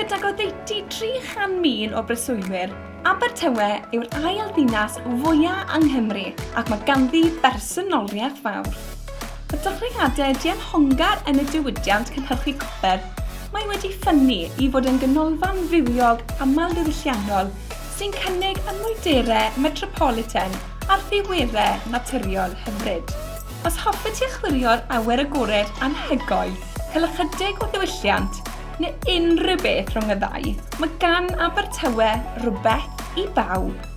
Gydag oddeutu 300,000 o breswylwyr, Abertawe yw'r ail ddinas fwyaf yng Nghymru ac mae ganddi bersonoliaeth fawr. Y dechreuadau dianhongar yn y diwydiant cynhyrchu copr, mae wedi ffynnu i fod yn ganolfan fywiog amlddiwylliannol sy'n cynnig y mwyderau metropolitan a'r ddiweddau naturiol hyfryd. Os hoffet ti achwilio'r awyr agored anhygoel, cael ychydig o ddiwylliant neu unrhyw beth rhwng y ddau, mae gan Abertawe rhywbeth i bawb.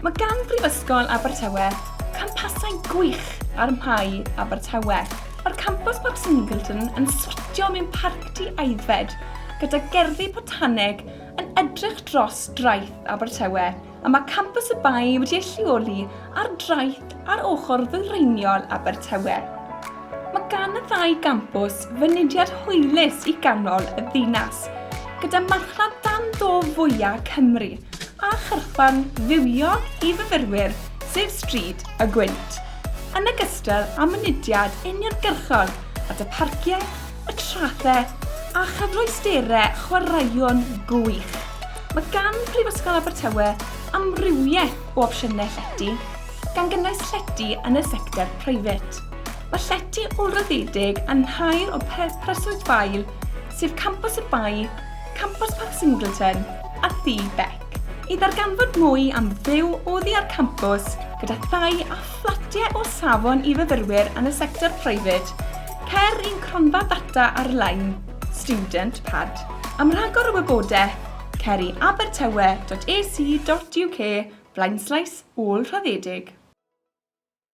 Mae gan Brifysgol Abertawe campasau gwych ar Mhai Abertawe. Mae'r campws Parc Singleton yn sortio mewn parcdy aeddfed gyda gerddi potaneg yn edrych dros draeth Abertawe a mae campws y Bae wedi ei lleoli ar draeth ar ochr ddwyreiniol Abertawe. Mae gan y ddau gampws fynediad hwylus i ganol y ddinas, gyda marchnad dan do fwyaf Cymru a chyrchfan fywiog i fyfyrwyr, sef Stryd y Gwynt, yn ogystal â mynediad uniongyrchol at y parciau y traethau a chyfleusterau chwaraeon gwych. Mae gan Prifysgol Abertawe amrywiaeth o opsiynau llety, gan gynnwys llety yn y sector private. Mae llety olryddedig yn nhair o Pursuit Vale, sef Campus y Bai, Campus Park Singleton a Thŷ Beck. I ddarganfod mwy am fyw oddi ar campws gyda thai a Fflatiau o safon i fyfyrwyr yn y sector preifat, Ceir un cronfa ddata ar-lein, Student Pad, am rhagor o wybodaeth, ceir i abertawe.ac.uk flaenslais ôl-raddedig.